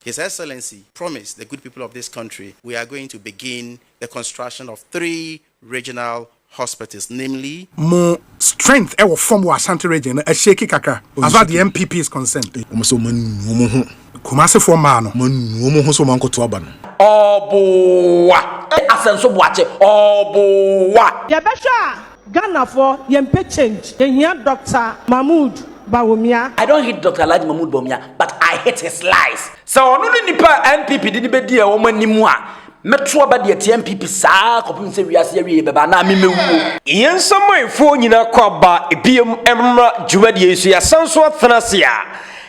His Excellency promised the good people of this country we are going to begin the construction of three regional hospitals namely. Mo strength ɛwɔ fam wɔ Ashanti region no ahyake kakra as far as the NPP is concerned. Wɔn sɛ wɔn anu wɔn ho. Kumasefoɔ mmaa no. Wɔn anu wɔn ho sɛ wɔn ankɔto aba no. Ɔɔboowa! Asɛnso Boakye, Ɔɔboowa! Yɛbɛhwɛ a, Ghanafoɔ yɛmpɛ change yɛhia Doctor Mahmood Bawumia. I don't hate Doctor Alhaji Mahmood Bawumia but I hate his lies. Sɛ ɔno ne nipa a NPP de no bɛdi wɔn anim a, mɛto aba de atia NPP saa ara kɔpem sɛ wiase awieɛ bɛba anaa me mɛwuo. Yɛn samanfoɔ nyinaa kɔ aba biom mmra dwumadie yi so yɛasan nso atena ase a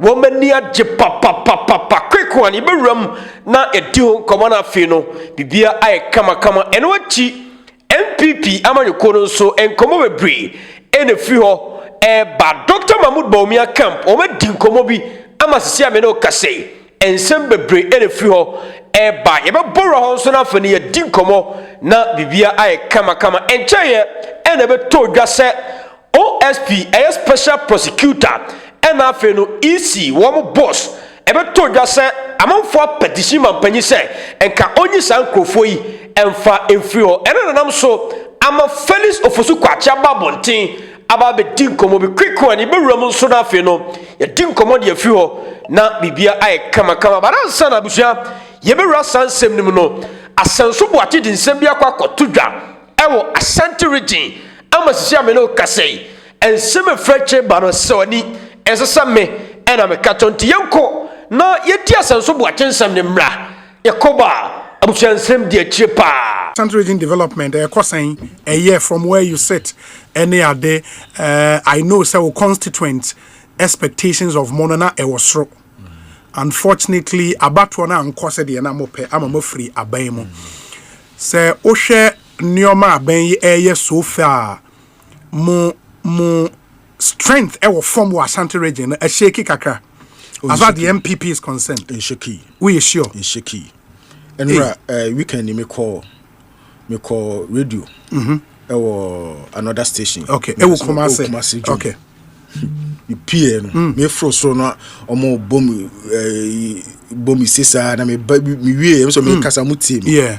Wɔn ani agye papapapapa. Quick one, yɛbɛwura mu na yɛdi ho nkɔmmɔ no afei no, biribiara ayɛ kamakama. Ɛno akyi, NPP amanyɔkuo no nso, nkɔmmɔ bebree ɛna ɛfiri hɔ ɛreba. Doctor Mahmoud Bawumia camp, wɔadi nkɔmmɔ bi ama sisi a me ne wo kasa yi, nsɛm bebree ɛna ɛfiri hɔ ɛreba. Yɛbɛbɔ wura hɔ nso na afei no yɛadi nkɔmmɔ na biribiara ayɛ kamakama. Ɛnkyɛeɛ ɛna ɛbɛtɔ dwa sɛ OSP ɛyɛ special prosecutor ɛna afei no EC wɔn boss ɛbɛtoo dwa sɛ amanfoɔ apɛtition mampanyin sɛ nka ɔnyi saa nkorɔfoɔ yi ɛnfa ɛnfiri hɔ ɛna nanam so ama Felix Ofosu Kwakye aba abɔnten aba abɛdi nkɔmɔ bi quick one yɛbɛwura mu nso na afei no yɛdi nkɔmɔ de afiri hɔ na biribia ayɛ kama kama but ansa na abusua yɛbɛwura saa nsɛm no mu no Asanso Boakye de nsɛm bi akɔ akɔto dwa ɛwɔ Asante region ama sisi a me ne kasa yi ɛnsɛ me frɛ kyerɛ ba no sɛ ɔni ɛsɛ sɛ me ɛna me ka tɔ nti yɛnkɔ na yɛdi asɛnso boakye nsɛm ne mmra yɛkɔ ba abusua nsɛm di akyire paa. Central Region Development ɛkɔ sɛn ɛyɛ from where you sit ɛne ade uh, I know sɛ wo constituent expectations of mo no na ɛwɔ soro unfortunately abatoɔ no ankɔ sɛdeɛ na mopɛ ama moafiri aban mu sɛ wohwɛ Nneɛma a bɛn yɛ so fɛ a mo mo strength ɛwɔ fam wɔ Asante region no ɛhyɛki kakra as far as the NPP is concerned. Ɛhyɛki. Woyɛ sure? Ɛhyɛki. Ɛnura ɛɛ weekend ni mi kɔ mi kɔ radio. Mhm. Ɛwɔ another station. Okay. Ɛwɔ Kumasi. Kumasi jɔ. Okay. Mi pie no. Mi foro so no ɔmo bɔ mi ɛɛ bɔ mi sisa na mi ba mi wie ɛmi sɔ mi kasa mo tie mi. Yeah.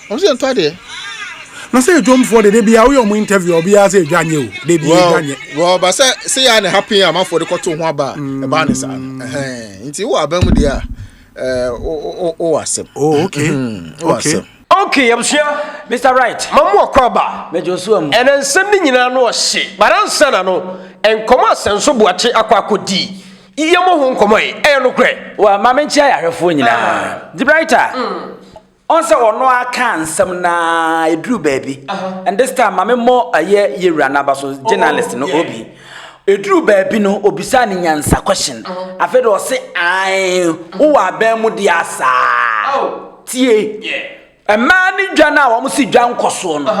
Ɔmo sɛ yɛntɔ adeɛ. Na sɛ dwomfoɔ de de bia woyɛ ɔmo interview a obiara sɛ edwa nyɛ o de bia edwa nyɛ. Well ba sɛ sɛ yɛ a na ɛha pin a amanfoɔ de kɔto ho aba a mm. ɛbaa ne saa no ɛhɛn nti wɔ aban mu deɛ a ɛɛ wɔ asɛm. Oh okay mm-hmm. wɔ asɛm. Okay yabusua Mr Right ma mu ɔkɔ aba. Mɛjɔ so amu. Ɛnɛ nsɛm ne nyinaa no ɔhye bara nsa na no nkɔmɔ asɛnso buakye akɔ akɔ di iye mo ho nkɔmɔ yi ɛyɛ no korɛ. Wa maame nkyɛn ayɛ ahwɛfoɔ nyinaa. Ah. The Brighter. Mm. Ɔn sɛ ɔno ara kaa nsɛm no ara ɛduru baabi. And this time ma memmɔ ɛyɛ yɛwura no aba so, journalist no Obi. Ɛduru baabi no ɔbisaa no nyansa question. Afei de ɔse ae, wowɔ aban mu deɛ asaa. Tie, mmaa no dwa no a wɔn se dwa nkɔsoɔ no,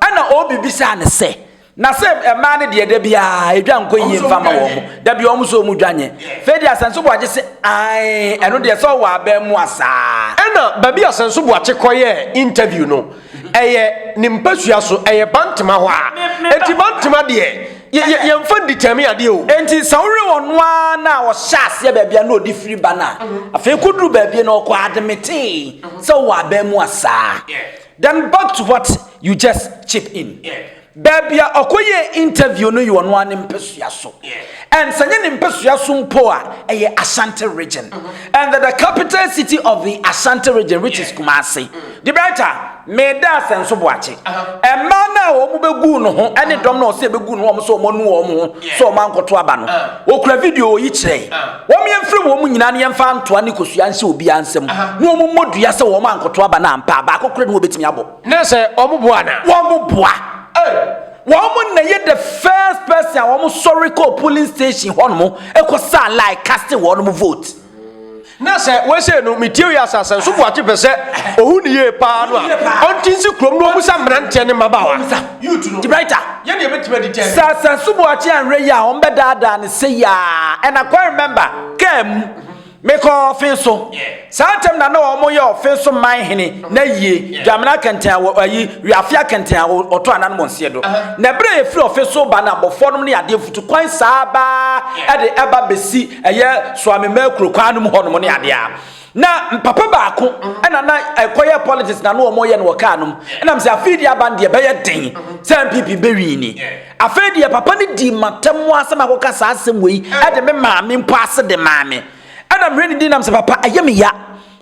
ɛna Obi bisaa no sɛ, Na se mmaa no deɛ da biara edwa nkɔ yie nfa ma wɔn da bi wɔn so wɔn dwa nye fei deɛ asɛnso boagye se ae ɛno deɛ sɛ ɔwɔ abɛn mu asaa. Ɛna baabi a asɛnso boakye kɔ yɛ interview no ɛyɛ ne mpasua so ɛyɛ bantama hɔ a enti bantama deɛ yɛ yɛ yɛnfa ndi tɛmi adeɛ o. Enti sɛ wowe ɔno ara na a ɔhyɛ aseɛ baabi a na ɔde firi ba no a afei kɔduru baabi no ɔkɔ admite sɛ ɔwɔ abɛn mu asaa. Then back to what you just chip in, baabi a ɔkɔyɛɛ interview no yɛ ɔno ara ne mpasua so, and sɛ nyɛ ne mpasua so mpo a, ɛyɛ Ashanti region, mm-hmm. and the, the capital city of the Ashanti region which is Kumasi. Mm-hmm. The better, meda Asenso Boakye. Ɛmaa uh-huh. no a wɔn bɛgu no ho ɛne uh-huh. dɔm na ɔsɛ bɛgu no wɔn sɛ wɔn anu wɔn ho sɛ wɔn ankɔto aba no, uh-huh. okura video oyi kyerɛ. Wɔn yɛmfrɛ wɔn nyinaa na yɛmfa ntoa ne kosua nhyɛ obiara nsam, na wɔn mmɔ dua sɛ wɔn ankoto aba no ampa a, baako korɛ na wɔbɛtumi abɔ. Na sɛ wɔn boa no a? Wɔn boa. Wɔn na ɛyɛ the first person a wɔn sɔre kɔɔ polling station hɔnom kɔ saa line casting wɔn vote. Na sɛ wɔsɛ no, metie wei asase nso boakye pɛ sɛ ohu ne yie paa no a, ɔnte nsi kurom na ɔmmisa mmeranteɛ ne mmabaawa. Youth no, Gibraltar. yɛ deɛ ɛbɛtumi adi tɛn. Sir Asansu Boakye anwerɛ yi a wɔn bɛ daadaa no sei aa and I quite remember car mu me kɔ ɔfen so saa ntɛm na na wɔn yɛ ɔfen so man hene na yie dwamena kɛntɛn awɔ ayi wiafia kɛntɛn awɔ ɔtɔ anan wɔn seɛ do na ɛberɛ yɛ firi ɔfen so ba na abɔfoɔ nom ne adeɛ futu kwan saa baa ɛde ɛba bɛsi ɛyɛ soamemɛ kuro kwan nom hɔ nom ne adeɛ a Na papa baako ɛna na ɛkɔyɛ politics na no wɔn yɛ no wɔ kaa nom ɛnam sɛ afei deɛ aban deɛ bɛyɛ den sɛ npp bɛwin ni afei deɛ papa no di matam mu asɛm akɔka saa asɛm wei ɛde me maame mpo ase de maame ɛna mehwɛ ne din nam sɛ papa ɛyɛ me ya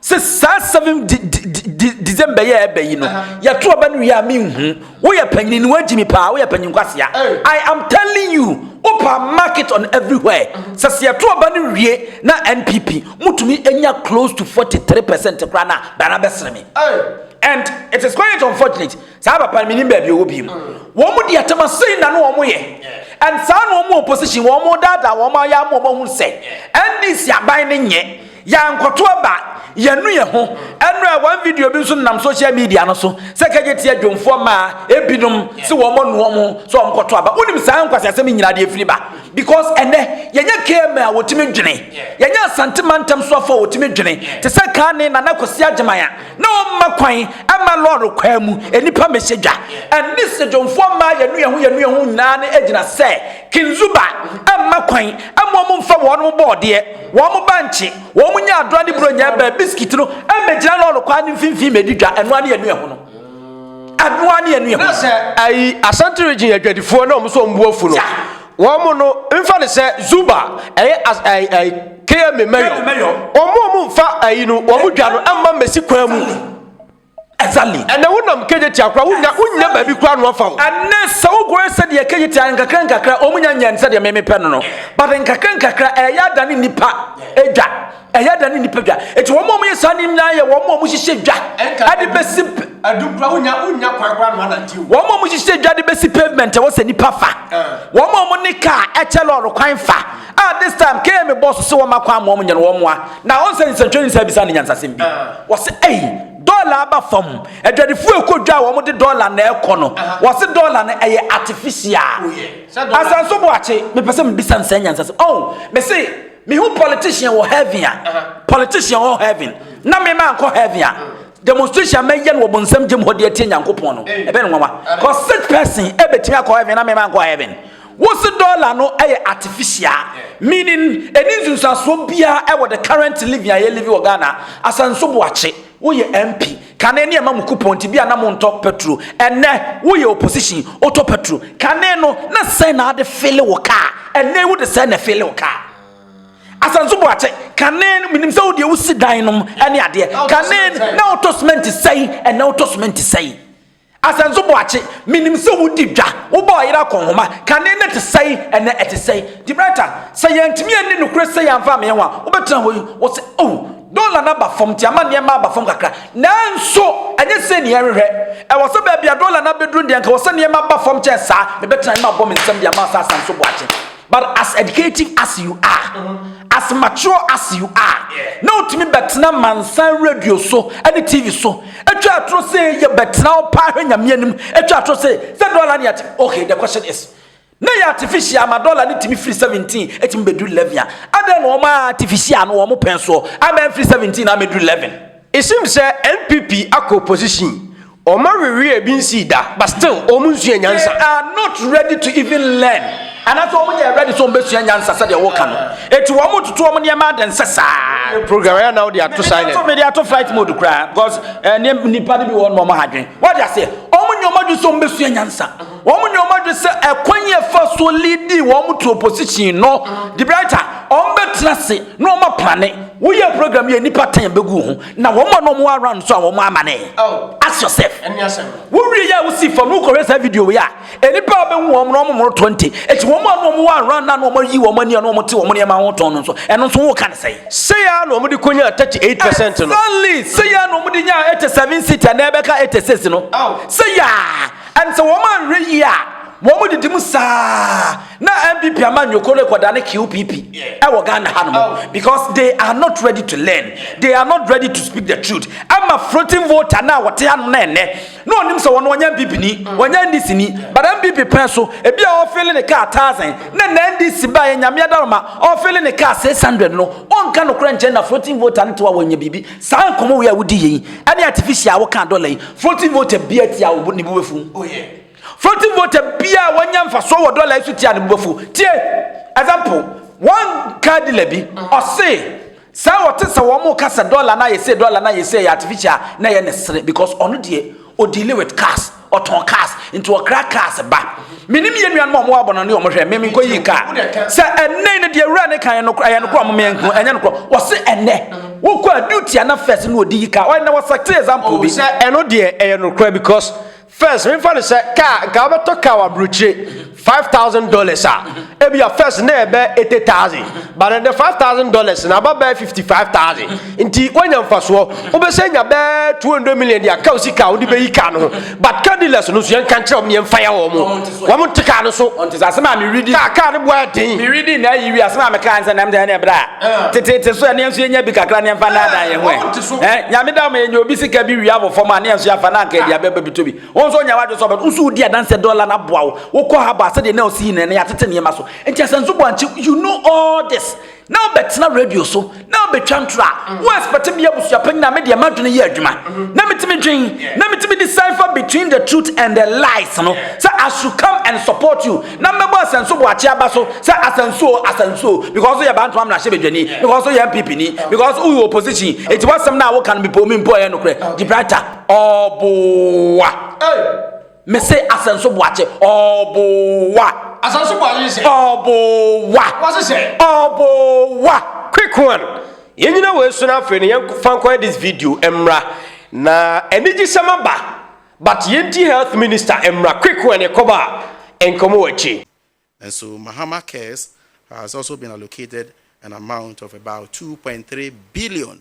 sɛ saa seven december yɛ ɛbɛ yi no yɛto ɔba no wie a menhu Woyɛ panyin ni wagyi me paa woyɛ panyin kwasea I am telling you wopa mark it on everywhere sɛ sɛ yɛto ɔba no wie na NPP mutumi anya close to 43 percent koraa na bana bɛsere me and it is quite unfortunate saa papa no menim baabi ɔwɔ biem wɔn mu di atɛma sei na no wɔn yɛ and saa na wɔn opposition wɔn daadaa wɔn ayɛ ama wɔn ahun sɛ NDC aban no nyɛ Yɛankɔto aba, yɛanu yɛn ho. Ɛno a, one video bi nso nenam social media no so sɛ kɛgye tia dwomfoɔ mmaa ebinom se wɔn anu wɔn ho sɛ wɔn kɔto aba. Wonim saa nkwaseasɛm yi nyinaa deɛ efiri ba? Because ɛnɛ yɛnyɛ KMA a wɔtumi dwene, yɛnyɛ Asante mantam soafoɔ a wɔtumi dwene te sɛ Kane Nana Kwasi Agyeman a na ɔmma kwan mma lɔre kwan mu nnipa mmɛhyɛ dwa. Ɛnne se dwomfoɔ mmaa yɛanu yɛn ho yɛanu yɛn ho nyinaa no gyina sɛ King Zuba mma kwan mma wɔn mmfa wɔn bɔɔdeɛ. Wɔn bankye, wɔn nya adora ne buronya ɛbɛn biskit no mmɛgyina lɔɔre kwan no mfimfini mmɛdi dwa. Ɛnoa ne yɛnu ɛho no. Ɛnoa ne yɛnu ɛho. Na sɛ ayi Asante region adwadifoɔ na wɔn nso wɔn bu afu no, wɔn no mfa ne sɛ Zuba ɛyɛ as ɛyɛ ɛyɛ KMA mayor. Wɔn wɔn mfa ayi no wɔn dwa no mma mmɛsi kwan mu. Exactly. Ɛnɛ wo nam Kejetia kora wo nya wo nya baabi kora no afa o. Ɛnɛ sɛ wo gɔɛ sɛ deɛ Kejetia nkakra nkakra ɔmo nya nyɛ sɛ deɛ mɛmɛ pɛ no no. But nkakra nkakra ɛyɛ ada ne nipa edwa. Ɛyɛ ada ne nipa dwa. Eti wɔn ɔmo yɛ saa ne nyinaa yɛ wɔn ɔmo hyehyɛ dwa. Ɛde bɛsi. Ɛdu kora wo nya wo nya kwan kora no anante o. Wɔn ɔmo hyehyɛ dwa de bɛsi pavement ɛwɔ sɛ nipa fa. Wɔn ɔmo ne car ɛkyɛ lɔɔre kwan fa. Ah this time kee me boss se wɔma kwan ma wɔn nyɛ no wɔn moa na wɔn sɛ nsɛntwerɛ ni saa bisa ne nyansasɛm bi wɔse ei dɔla aba fam adwadifo ɛkɔ dwa a wɔn de dɔla na ɛkɔ no wɔse dɔla no ɛyɛ artificial asanso boakye mepɛ sɛ mebisa nsɛn nyansasɛm oh me se mehu politician wɔ heaven a politician wɔ heaven na mema nkɔ heaven a demonstration mɛyɛ no wɔ bonsam gyem hɔ de atie nyankopɔn no ɛbɛ no nwanwa cause such person ɛbɛtumi akɔ heaven na mema nkɔ heaven Wo se dollar no yɛ artificial meaning ɛni nsunsuasoɔ biara ɛwɔ the current living a yɛ live wɔ Ghana Asanso Boakye wo yɛ MP kane ne ɛma mo coupon nti bia na mo ntɔ petro ɛnɛ wo yɛ opposition wo tɔ petro kane no na sɛn na ade file wo car ɛnɛ yi wo de sɛn na file wo car Asanso Boakye kane no menim sɛ wo deɛ wo si dan nom ɛne adeɛ kane na wo tɔ cement sɛn ɛnɛ wo tɔ cement sɛn. Asɛnso Boakye, Menim sɛ wodi dwa, wobɔ ɔyere akɔnhoma, kane no te sɛn, ɛnnɛ ɛte sɛn? Gibraltar, Sɛ yɛantumi anni nokorɛ sei amfa ammeyɛ ho a, wobɛtena hɔ yi? Ɔse, Oh, dɔla no aba fam nti amanneɛ mma aba fam kakra. Nanso, ɛnyɛ sei na yɛhwehwɛ. Ɛwɔ sɛ baabi a dɔla no abɛduru deɛ anka ɛwɔ sɛ nneɛma ba fam kyɛn saa. Mebɛtena he mabɔ me nsam de ama wo sɛ Asɛnso Boakye. But as educative as you are, mm-hmm. as mature as you are, na otumi bɛtena mansan radio so ɛne TV so atwa atoro sɛ yɛ bɛtena hɔ paa hwɛ nyame anim atwa atoro sɛ sɛ dɔla ne ate okay the question is ne yɛ artificial ama dɔla ne tumi firi seventeen etumi bɛdu eleven a adɛn na wɔn artificial no wɔn pɛn soɔ ama firi seventeen na ama du eleven. Esim sɛ NPP akɔ opposition wɔn aweweɛ ebi nsii da but still wɔn nsua nyansa. They are not ready to even learn anaasɛ wɔn nyɛ ready sɛ wɔn bɛsua nyansa sɛdeɛ wɔka no eti wɔn toto wɔn nneɛma adɛn sɛ saa. Program yɛ anaw de ato silent. Mede ato flight mode koraa because eh, nipa de bi wɔn wɔn ha dwen wɔde aseɛ wɔn nyɛ wɔn adwen sɛ wɔn bɛsua nyansa. Wɔn nyɛ wɔn adwene sɛ ɛkwan yɛ fa so lidi wɔn to opposition no de bia ta wɔn bɛtena ase na wɔn apane woyɛ program yɛ nipa ten bɛgu ho na wɔn a wɔn around so a wɔn amane oh. ask yourself wowie yɛ a wosi fam no wokɔhwɛ saa video wei a nnipa a bɛhu wɔn na wɔn mmoro 20 ɛti wɔn a wɔn wɔ around na wɔn ayi wɔn ani a wɔn te wɔn nneɛma ho tɔn no nso ɛno nso woka ne sɛe seya na wɔn de kɔnya 38 percent no exactly seya na wɔn de nya 87 seat a na ɛbɛka 86 no oh. seya And sɛ wɔn anhwɛ yie a wɔn didi mu saa na npp amanyɔ kɔ no kɔda ne qpp ɛwɔ ghana ha nom oh. because they are not ready to learn they are not ready to speak the truth ama floating voter na wɔte ha nom na ɛnɛ na ɔnim sɛ wɔn wɔnyɛ npp ni wɔnyɛ ndc ni but npp pɛn so ebi a ɔfeele ne kaa thousand ne na ndc ba yɛ nyame adaroma ɔfeele ne kaa six hundred no ɔnka no korɛ nkyɛn na floating voter no te wa wɔnyɛ biribi Saa nkɔmɔ wei a wodi yɛ yi ɛne artificial a woka dɔla yi floating voter bia tia wo ne bo bɛfu oh yeah floating voter bia wanya mfasoɔ wɔ dɔla yi so tia ne bo bɛfu tie example one car dealer bi ɔse sɛ ɔte sɛ wɔn ka sɛ dɔla na yɛ sɛ dɔla na yɛ sɛ yɛ artificial na yɛ ne sere because ɔno deɛ ɔdeale with cars Ɔtɔn cars nti ɔkra cars ba. Menim yɛn nuanom a wɔn abɔ no ne wɔn hwɛ mmemme nkɔ yi car. Sɛ ɛnɛ ne deɛ wura ne kan yɛ nokora yɛ nokora wɔn mmea nko ɛnyɛ nokora. Wɔsi ɛnɛ wokɔ a duty ana first ne wɔde yi car. Ɔyɛ na wɔsɛte example bi. Sɛ ɛno deɛ ɛyɛ nokora because first mefa no sɛ car nka wɔbɛtɔ car wɔ aburokyire. five thousand dollars a ebi a first na ɛbɛ eighty thousand but ɛdɛ five thousand dollars na aba bɛɛ fifty five thousand nti wanya nfasoɔ wobɛsɛ nya bɛɛ two hundred million de aka osi kaa wode bɛyi kaa no ho but car dealers no so yɛn ka nkyerɛ wɔn yɛn fa ya wɔn wɔn nte kaa no so ɔnte sɛ asɛm a mi redi kaa kaa no boa ɛden mi redi na ayi wi asɛm a mi kaa nsɛm nam sɛ ɛna ɛbra ah. tete te so ɛne nso yɛn nya bi kakra ne nfa naadaa yɛn ho ɛ nyame da wɔn yɛn nya obi sika bi wi abɔ fam a ne yɛn nso yɛn afa na nka ɛdi abɛba bi to bi Wo nso nyɛ w'adwene sɛ ɔbɛto wo so redi adanseɛ dɔla no aboa wo wokɔ haba sɛdeɛ na ɔsi yi nnɛ na yɛatete nneɛma so nti asɛnso bɔ ankye you know all this na wobɛtena radio so na wobɛtwa ntorɔ a mm. wo expect me abusua panyin a medeɛ m'adwene yɛ adwuma mm-hmm. na metumi dwen na metumi decipher between the truth and the lies no sɛ I should come and support you na mmɛbɔ asɛnso bɔ akye aba so sɛ asɛnso asɛnso because yɛ bantoma mmarahyɛ badwani because yɛ MPP ni because woyɛ opposition ɛti wasɛm no a woka no mepɛ omi mpo ɛyɛ nokorɛ gye brighter Ɔboa. Hey. Mese asɛnso boakye. Ɔboa. Asɛnso boakye sɛ. Ɔboa. Wɔse sɛ. Ɔboa. Quick one. Yɛn nyina wɔ esu no afei no yɛn fa nkɔ this video mmra na anigye sɛm aba but yɛn ti health minister mmra quick one yɛ kɔba a nkɔmɔ wɔ akyi. And so Mahama Cares has also been allocated an amount of about two point three billion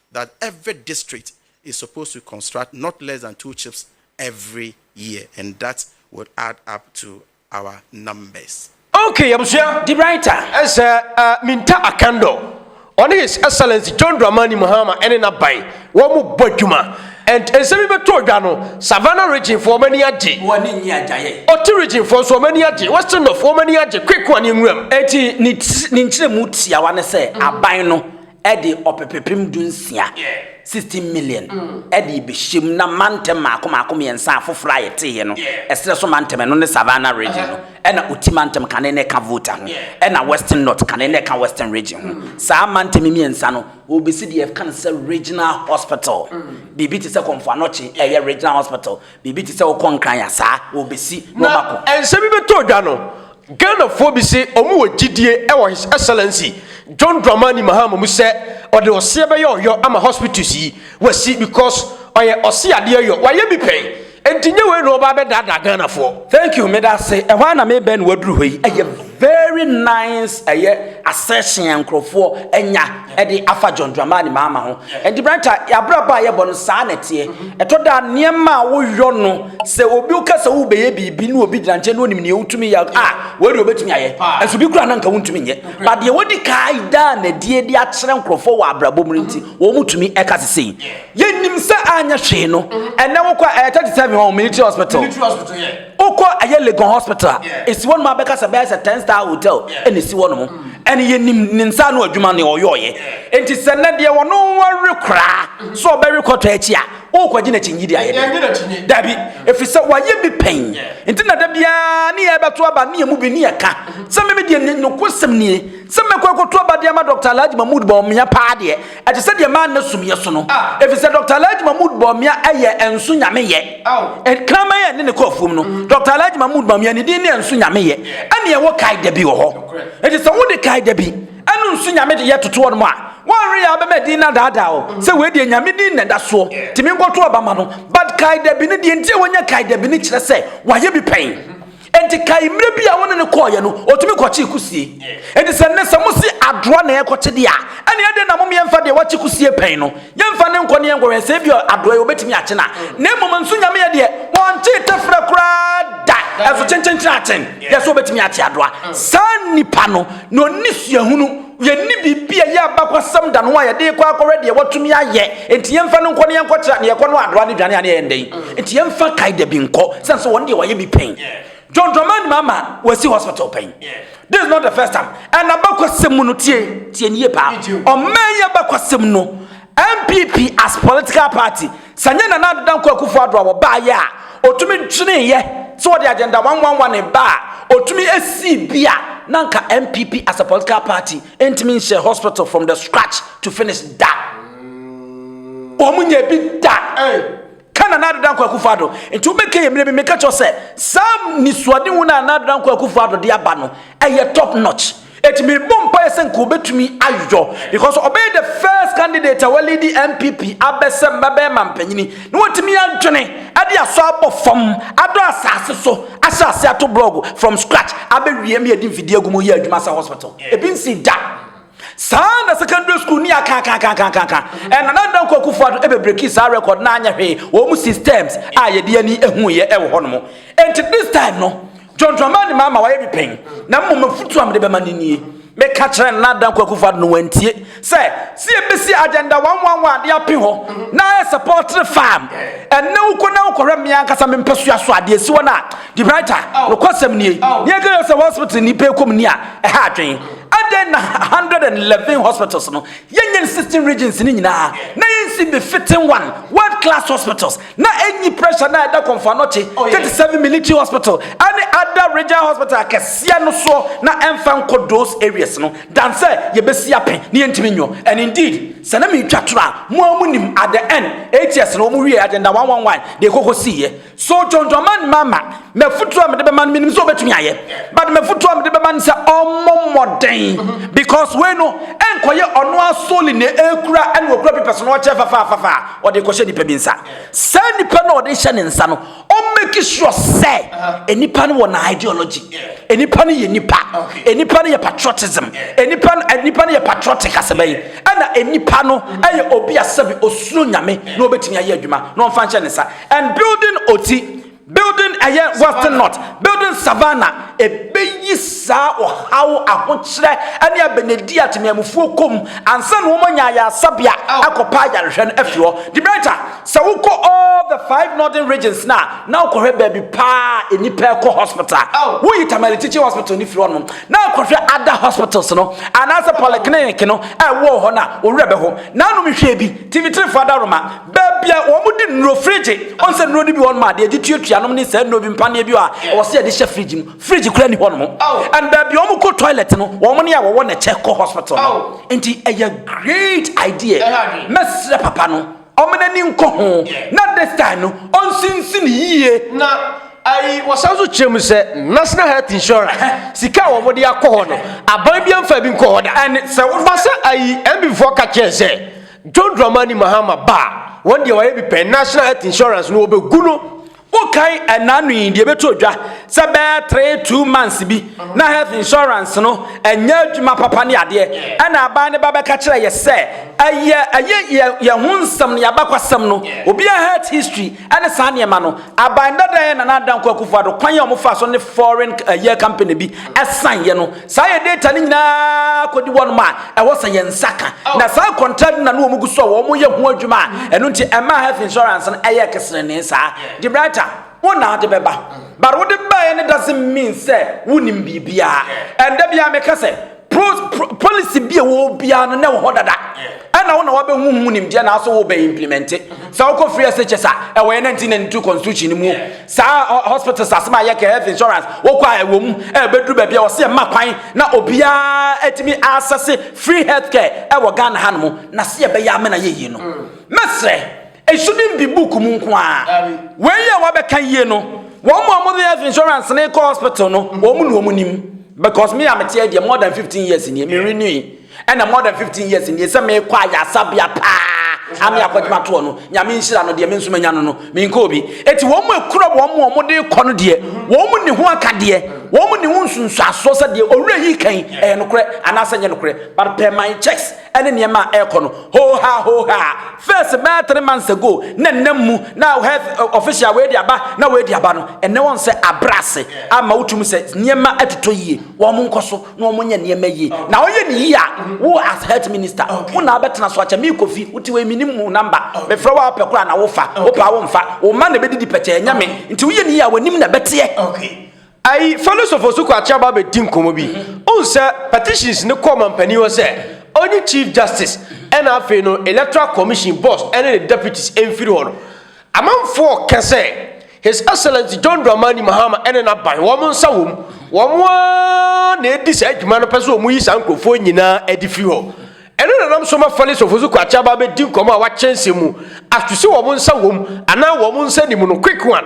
that every district is supposed to construct not less than two chips every year and that would add up to our numbers. Ok abusua the writer is uh, uh, Minta Akando ɔne his excellence John Dramani Mahama ɛne n'aban wɔn mu bɔ adwuma and nsɛm yi bɛtɔ odwa no Savannah region fo wɔn ani agye wɔn ani nye agyaye Ɔte region fo nso wɔn ani agye Western North wɔn ani agye Kwekwan ne Nwuram. Eti ne nkyerɛmu tiawa ne sɛ aban no de ɔpepepem dunsia, sixteen million, de rebɛhyɛ mu na mantam mmaako mmaako mmiɛnsa afoforɔ a yɛteeɛ no, ɛserɛ so mantam, ɛno ne Savannah Region no, ɛna Oti mantam ka ne na ɛka Volta ho, ɛna Western North ka ne na ɛka Western Region ho. Saa mantam mmiɛnsa no, wɔrebɛsi deɛ yɛka no sɛ Regional Hospital, biribi te sɛ Komfo Anokye ɛyɛ Regional Hospital, Biribi te sɛ wokɔ nkran a, saa, wɔbɛsi na Na wɔakɔ. nsɛm yi bɛtɔɔ dwa no, Ghanafoɔ bi se wɔn wɔ gyidie wɔ His Excellency John Dramani Mahama mu sɛ ɔde ɔseɛ bɛyɛ ɔyɔ ama hospitals yi wɔasi because ɔyɛ ɔseadeɛ yɔ, wayɛ bi pɛn, enti nyɛ wei na ɔba abɛdaadaa Ghanafoɔ. Thank you, meda ase. Ɛhɔ ara na merebɛn na waduru hɔ yi. Ɛyɛ very nice ɛyɛ assertion a nkurɔfoɔ anya. de afa John Dramani Mahama ho. Ɛnti Branta, abrabɔ a yɛbɔ no saa na ɛteɛ. Mhm. Ɛtɔ da nneɛma a woyɔ no, sɛ obi woka sɛ wobɛyɛ biribi na obi gyina nkyɛn na onim nea wotumi yɛ a, wei deɛ obɛtumi ayɛ. Ɛso bi kura na nka wontumi nyɛ. Ba deɛ wodi kaa daa na die de akyerɛ nkurɔfoɔ wɔ abrabɔ mu nti, mhm. wɔn mu tumi ɛka sese yi. Yɛnim sɛ anyɛ hwee no, mhm. ɛnɛ wokɔ ɛyɛ 37 hɔ, military hospital. Wokɔ ɛyɛ Legon hospital a, esi hɔ nom a bɛka sɛ bɛyɛ sɛ ten star hotel ɛna esi hɔ nom. Ɛne yɛnim ne nsa ano adwuma ne ɔyɔɔyɛ. Enti sɛ nɛ deɛ wɔno wɔwe koraa sɛ ɔbɛwe kɔtɔ akyi a, wokɔgye n'akyinyi deɛ ayɛ dɛ? Dabi. Ɛfiri sɛ wayɛ bi pɛn. Nti na da biara ne yɛ bɛto aba ne yɛmu bi ne yɛka sɛ meme deɛ nokosɛm nie sɛ mɛkɔ akɔto aba de ama Dɔkta Alhaji Mahmood Bawumia paa deɛ Ɛte sɛ deɛ maa nna sum yɛ so no, ɛfiri sɛ Dɔkta Alhaji Mahmood Bawumia yɛ Ɛnso Nyame yɛ. Kraman a ɛne ne kɔ afuom no, Dɔkta Alhaji Mahmood Bawumia ne din ne Ɛnso Nyame yɛ. Ɛne ɛwɔ kae da bi wɔ hɔ. Enti sɛ wode kae da bi ɛne Nso Nyame de yɛ toto hɔ nom a, wɔnwe yɛ abɛma din no adaadaa wo sɛ wei deɛ Nyame din na ɛda soɔ. Tumi nkɔto aba ma no. But kae da bi no, deɛ nti a wɔnya kae da bi no kyerɛ sɛ wɔayɛ bi pɛn. Enti kae mmerɛ bi a wo ne no kɔeɛ no, ɔtumi kɔkyee kusie. Enti sɛ nnɛ sɛ mose adoa na yɛrekɔkye deɛ a, ɛnneɛ adɛn na mom yɛmfa deɛ wakye kusie pɛn no, yɛmfa no nkɔ na yɛnkɔhwɛ sɛ ebia adoa yi ɔbɛtumi akye no a? Na mmom nso Nyame deɛ, ɔnkyee tɛferɛ koraa da, ɛso kyenkyenkyen akyen deɛ sɛ ɔbɛtumi akye adoa. Saa nipa no, na ɔnni suahunu. Yɛnni biribi a ɛyɛ abakɔsɛm da no a yɛde rekɔ akɔhwɛ deɛ wɔatumi ayɛ. Enti yɛmfa no nkɔ na yɛnkɔkyerɛ a, deɛ ɛkɔ no adoa ne dwane a ne yɛyɛ ndɛn. Enti yɛmfa kae da bi nkɔ, sɛne sɛ wɔn deɛ wɔayɛ bi pɛn. John Drummond Mama wɔasi hospital pɛn. This is not the first time. And abakɔsɛm mu no, tie, tie no yie paa. Ɔman yi abakɔsɛm no. NPP as political party, sɛ nyɛ Nana Ado Dankwa Akufo Addo a wɔbaeɛ a, ɔtumi dweneeɛ sɛ ɔde agenda one one one reba a, ɔtumi sii bi a, na anka NPP as a political party ntumi nhyɛɛ hospital from the scratch to finish da. Wɔn nyɛ bi da. Ka Nana Ado Dankwa Akufo-Addo nti wobɛka yɛ mmerɛ bi meka kyerɛ wo sɛ saa nisuadehu no a Nana Ado Dankwa Akufo-Addo de aba no ɛyɛ top notch ɛti mebɔ mpaeɛ sɛ nka ɔbɛtumi ayɔ because ɔbɛyɛ the first candidate a walidi NPP abɛ sɛ mmabarima mpanyini na watumi adwene ɛde asɔ abɔ fam adɔ asase so ahyɛ ase ato blog from scratch abɛwie ma yɛde mfidie agu mu yɛ adwuma sɛ hospital ɛbi nsi da Saa ara na secondary school ni akaakaakaakaaka. Ɛna na Nana Nkoa Akufo Addo ɛbɛ breaki saa record na anyɛ hwee. Wɔn six terms a yɛde ani ɛhu yɛ ɛwɔ hɔ nom. Ɛnti this time no, John Dramani ma ama wayɛ bi pɛn. Na mmom afutuo a mede bɛma no nie. Me ka kyerɛ Nana Addo Nkoa Akufo Addo no wantie. Sɛ, sɛ yɛbɛsi agenda one one one de ape hɔ na ayɛ sɛ poultry farm. Ɛnɛ wo kɔ na wo kɔhwɛ me ankasa me mpɛsoa so a deɛ ɛsi hɔ no a, Debrighter, nokwasɛm nie. Deɛ ɛka yɛ sɛ hospital nipa ɛkɔ mu ni a ɛha adwen. Adɛn na hundred and eleven hospitals no yɛnyɛ no sixteen regions no nyinaa na yɛnsi bi fitting one world class hospitals na ɛnyi pressure na ɛda kɔmfoanɔkye oh, thirty seven military hospital ɛne other regional hospital akɛseɛ no soɔ na ɛmfa nkɔ those areas no dan sɛ yɛbɛsi ape ne yɛntumi nyɔ and indeed sɛ na metwa toro a mo a mo nim at the end eight years no wɔn wie agenda one one one deɛ kɔkɔ siiɛ So Dwondwɔman mma ma me afotuo a mede bɛma no menim sɛ ɔbɛtumi ayɛ but mafotuo a mede bɛma no sɛ ɔmmɔ mmɔden mhm. because wei no ɛnkɔyɛ ɔno asoli na ɛkura ɛne ɔkura pipɛs no ɔkyɛ fafaafafa a ɔde kɔhyɛ nnipa bi nsa saa nnipa no ɔde hyɛ ne nsa no ɔmmɛki sure sɛ uh-huh. nnipa no wɔ na ideology nnipa no yɛ nnipa nnipa no yɛ patriotism nnipa no nnipa no yɛ patriotic asɛbɛ yi ɛna nnipa no ɛyɛ obi asɛbi osuro nyame na ɔbɛtumi ayɛ adwuma na ɔmfa nhyɛ ne nsa And building Oti, building ɛyɛ Western North, building Savannah, ɛbɛyi saa ɔhaw, ahokyerɛ, ne abɛnɛdi a temamufoɔ kɔ mu ansa na wɔanya ayaresabea akɔpa ayarehwɛ no afiri hɔ. De Brenta, sɛ wokɔ all the five northern regions no a, na wokɔhwɛ baabi paa a nnipa ɛkɔ hospital a, woyi Tamale Teaching Hospital no firi hɔnom na akɔhwɛ other hospitals no anaasɛ polyclinic no a ɛwɔ hɔ no a, wo werɛ bɛho. Nanom hwɛ bi, TV3 foɔ adaworoma. Baabi a wɔde nnuro fridge, wɔn sɛ nnuro no bi wɔn ma adeɛ gye tuatua nom ne saa nnuro bi mpaneɛ bi a ɛwɔ sɛ yɛde hyɛ fridge mu. Fridge kura ni hɔ nom. And baabi a wɔn kɔ toilet no, wɔn ne a wɔwɔ ne kyɛ kɔ hospital no. Nti ɛyɛ great idea. Mɛsrɛ papa no, wɔn n'ani nkɔ ho na this time no, ɔnsinsin yie. Na ayi wɔsan nso kyerɛ mu sɛ national health insurance sika a wɔn de akɔ hɔ no, aban bi amfa bi nkɔ hɔ da. And sɛ wɔn ba sɛ ayi MPfoɔ ka kyerɛ sɛ. John Dramani Mahama ba a, wɔn deɛ wɔayɛ bi pɛn, National Health Insurance no wɔbɛgu no. Wokae ɛna no yi deɛ ɛbɛtɔ dwa sɛ bɛyɛ three two months bi na health insurance no ɛnyɛ adwuma papa ne adeɛ ɛna aban ne ba bɛka kyerɛ yɛ sɛ ɛyɛ ɛyɛ yɛ ho nsɛm ne abakwasɛm no obiara health history ɛne saa nneɛma no, aban dada yɛ Nana Addo Dankwa Akufo Addo kwan a wɔfaa so ne foreign ɛyɛ company bi ɛsan yɛ no, saa yɛ data no nyinaa kɔdi wɔnom a ɛwɔ sɛ yɛn nsa ka, na saa contract no na ne wɔn gu so a wɔn yɛ ho adwuma a ɛno nti ɛmaa health insurance no ɛyɛɛ keserenee saa. Debrighter, wo na ade bɛba, but wode baeɛ no doesn't mean sɛ wonim biribiara, and da biara meka sɛ, polisi bi a ɛwɔ hɔ biara no na ɛwɔ hɔ dada ɛna wo na wabɛhu ho nimdeɛ na aso wobɛ implemente sɛ wokɔ free shs a ɛwɔ yɛ 1992 constitution no mu saa hospitals asɛm a yɛka health insurance wokɔ a ɛwɔ mu ɛbɛduru baabi a wɔsɛ ɛma kwan na obiara atumi asɛse free health care ɛwɔ ghana ha no mu na sɛ yɛbɛyɛ amena yɛyie no mɛsrɛ Esu no nndi book mu nko ara. Wei yɛ wabɛka yie no. Wɔn a wɔde health insurance no kɔ hospital no, wɔn na wɔn nim. Because me a mete deɛ more than 15 years nie, me renewing. Ɛna more than 15 years nie sɛ mekɔ ayasabea paa ame akɔdwuma toɔ no, nyame nhyira no deɛ me nso manya no no, menkɔ obi. Eti wɔn a ekura wɔn a wɔde kɔ no deɛ, wɔn ne ho aka deɛ, wɔn ne ho nsunsuasoɔ sɛ deɛ owura yi kan ɛyɛ nokorɛ anaasɛ nyɛ nokorɛ. But per my checks, ɛne nneɛma a ɛrekɔ no hoohaa hoohaa first bɛyɛ three months ago na nnam mu na health eh, official wei de aba na wei de aba no ɛnɛ wɔn sɛ abra ase ama wotum sɛ nneɛma atotɔ yie wɔn nkɔ so na wɔn nyɛ nneɛma yie na wɔyɛ ne yie a wo as health minister wo na abɛtena so akyɛ mi kofi wote wei mi ni mu namba mefrɛ wo a wopɛ kora na wofa wopɛ a womfa wo ma na ebɛdidi pɛkyɛ ɛnyɛ me nti woyɛ ne yie a wɔnim na ɛbɛteɛ. Okay. Ayi, fa no sɔfo so kɔ akyɛ aba abɛdi nkɔmmɔ bi. Wohu sɛ petitions no kɔ ɔmampanin hɔ sɛ ɔnyi Chief Justice ɛna afei no Electoral Commission boss ɛne ne deputies mfiri hɔ no. Amanfoɔ ka sɛ His Excellency John Dramani Mahama ɛne n'aban wɔn nsa wɔ mu. Wɔn ara na ɛredi saa dwuma no pɛ sɛ wɔyi saa nkurɔfoɔ nyinaa ɛde firi hɔ. Ɛno na nam so ma Fale sɔfo so kɔ akyɛ aba abɛdi nkɔmmɔ a wakyɛ nsɛm mu ato sɛ wɔn nsa wɔ mu anaa wɔn nsa nni mu no quick one.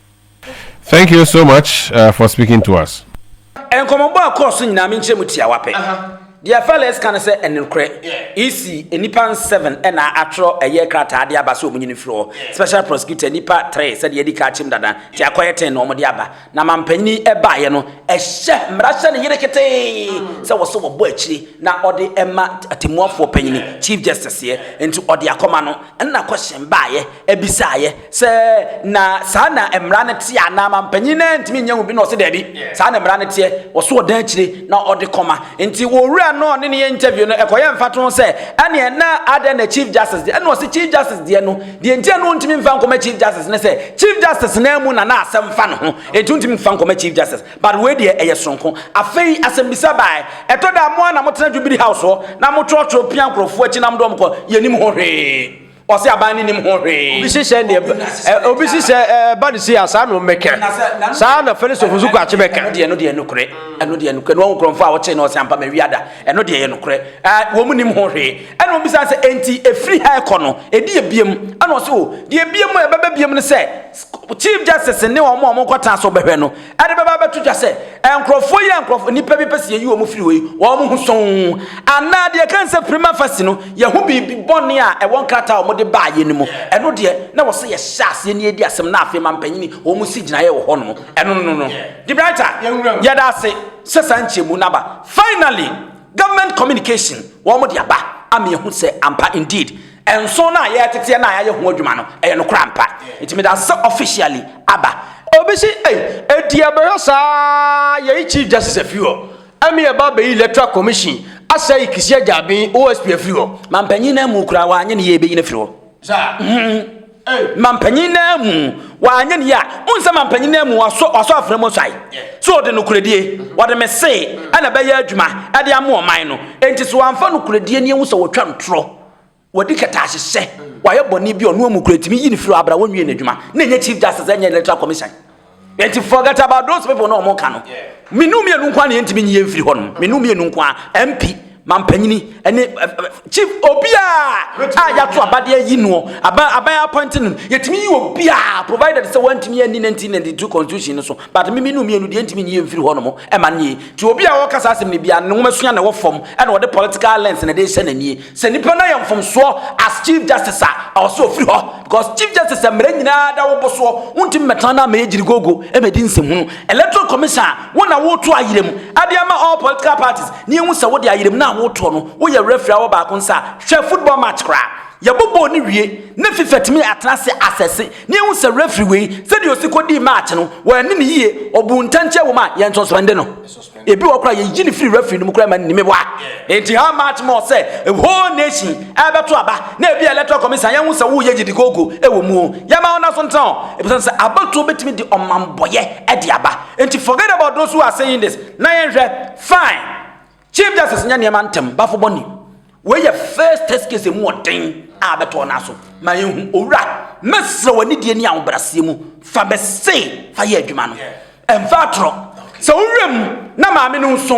Thank you so much for speaking to us. Nkɔmmɔbɔ a ɛkɔɔ so nyinaa, me nkyerɛmu tiawa pɛ. Deɛ Fellers ka ne sɛ ɛne nokorɛ. EC, nnipa nseven na atwerɛ ɛyɛ krataa de aba sɛ wɔn nyini mfiri hɔ. Special Prosecutor, nnipa three sɛdeɛ yɛadi ka akyɛm dada, nti akɔyɛ ten na wɔde aba. Na mampanin yi baeɛ no, ɛhyɛ mmara hyɛ ne yere ketee sɛ wɔ sɛ wɔbɔ akyire na ɔde ma atemmuafoɔ panin, Chief Justice, yɛ. Nti ɔde akɔma no, ɛna kɔhyɛn baeɛ, ɛbisaaeɛ. Sɛ na saa na mmara no teɛ anaa mampanyin no antumi nyɛ ho bi na ɔse daabi, saa na mmara no teɛ, wɔso ɔdan akyire na ɔde kɔma. Nti owura no a ɔne no yɛ interview no, ɛkɔyɛ mfatoho sɛ, ɛneɛ na adɛn na Chief Justice deɛ? Ɛna ɔse Chief Justice deɛ no, deɛ nti a na ɔntumi mfa nkɔma Chief Justice ne sɛ, Chief Justice no ara mu na na asɛm fa ne ho, nti ɔntumi mfa nkɔma Chief Justice. But wei deɛ ɛyɛ sononko. Afei asɛmmisa bae, ɛtɔ da a mo ara na motena Jubilee House hɔ na motwerɛtwerɛ pia nkorɔfoɔ akyi na mode wɔn kɔ, yɛnnim ho hwee. ɔsɛ aban no nim ho hwee obi hyehyɛ ne obi hyehyɛ ɛba ne si a saa na ɔmmɛka saa na fɛnisofo nso kɔ akye bɛka ɛno deɛ ɛno deɛ nokorɛ ɛno deɛ nokorɛ na wɔn nkurɔfoɔ a wɔkyee na ɔsɛ ampa ma wia da ɛno deɛ yɛ nokorɛ ɛɛ wɔn nim ho hwee ɛna wɔn bisa sɛ enti efiri ha ɛkɔ no edi ebiem ɛna ɔsɛ o deɛ ebiem ɛbɛbɛ biem no sɛ chief justice ne wɔn a wɔn kɔta so bɛhwɛ no ɛde bɛba abɛto dwa sɛ nkurɔfoɔ yi a nkurɔfoɔ nnipa bi pɛ sɛ yɛyi wɔn firi hɔ yi wɔn ho sɔn anaa deɛ kan sɛ prima facie no yɛho biribi bɔne a ɛwɔ nkrataa a wɔde baa yɛ no mu ɛno deɛ na wɔ sɛ yɛhyɛ aseɛ ne yɛdi asɛm na afei ma mpanyini wɔn si gyinaeɛ wɔ hɔ nom ɛno no no no debraita yɛda ase sɛ saa nkyɛmu no aba finally government communication wɔn de aba ama yɛhu sɛ ampa indeed Nson no a yɛreteteɛ no a yɛayɛ ho adwuma no, ɛyɛ nokorɛ ampa. Nti mede asese officially aba. Obi se, Ei, enti yɛbɛhwɛ saa yɛyi Chief Justice afiri hɔ, ɛme yɛba abɛyi Electoral Commission asɛe Kissi Agyabin, OSP, afiri hɔ? Mampanyin no amu koraa, wanyɛ ne yie a yɛbɛyi no afiri hɔ. Mampanyin no amu, wanyɛ ne yie a, wohu sɛ mampanyin no amu, wasɔ, wasɔ afena mu suae. So ɔde nokorɛdie, wɔde me se ɛna ɛbɛyɛ adwuma ɛde ama ɔman no. Enti sɛ wamfa nokorɛdie nie wohu sɛ wɔtwa no torɔ. wɔde kɛtaase hyɛ wɔayɛ bɔne bi ɔno amu kura tumi yi ne firi abra wɔn nwie n'adwuma na ɛnyɛ chief justice ɛnyɛ electoral commission yɛnti forget about those people na wɔn ka no menu mmienu nko a na yɛntumi nyi yɛn firi hɔ no menu mmienu nko a mp mampanyini ɛne eh, eh, eh, chief obiara a yɛato abadeɛ yi noɔ aban aban appointing no yɛtumi yi obiara provided sɛ wɔntumi anni 1992 constitution no so but meme no mmienu deɛ ntumi nyi yɛn firi hɔ nom ɛma no yɛ Nti obi a ɔka saa asɛm no biara ne nwoma sua na ɛwɔ fam ɛna ɔde political lens na ɛde rehyɛ n'ani. Sɛ nipa no ayɛ mfomsoɔ as chief justice a, ɛwɔ sɛ ɔfiri hɔ because chief justice a mmara nyinaa da wo bo soɔ, wontumi mmɛtena na mmɛyɛ gyirigoogo mmɛdi nsɛmhunu. Electoral commission a wo na woreto ayerɛm de ama all political parties na yɛhu sɛ wode ayerɛm no a woretoɔ no woyɛ referee a wɔ baako nsa a, hwɛ football match koraa yɛbobɔɔ no wie na fifa tumi atena ase assess Na yɛahu sɛ refri wei, sɛdeɛ ɔsi kɔdii match no, wɔanni no yie, ɔbuu ntɛnkyea wɔ mu a yɛnsɔspɛnde no. Ebi wɔ hɔ koraa yɛyi no firi refri no mu koraa ma no ni. Meboa. Enti how much more sɛ a whole nation ɛrebɛto aba na ebi a electoral commission a yɛahu sɛ woyɛ gyidikoogo wɔ mu o, yɛmma wɔn nna so ntena o, ɛfisɛ sɛ abatoɔ bɛtumi de ɔmammɔyɛ de aba. Enti forget about those who are saying this na yɛnhwɛ, fine. Chief Justice nyɛ nneɛma ntɛm bafo bɔne. Wei yɛ first test case emu ɔden a abɛtɔ no aso. Ma yɛnhu, Owura, mɛsrɛ w'anidie ne ahobraseɛ mu fa me se fa yɛ adwuma no. Ɛmfa atorɔ. Sɛ wo werɛ mu na maame no nso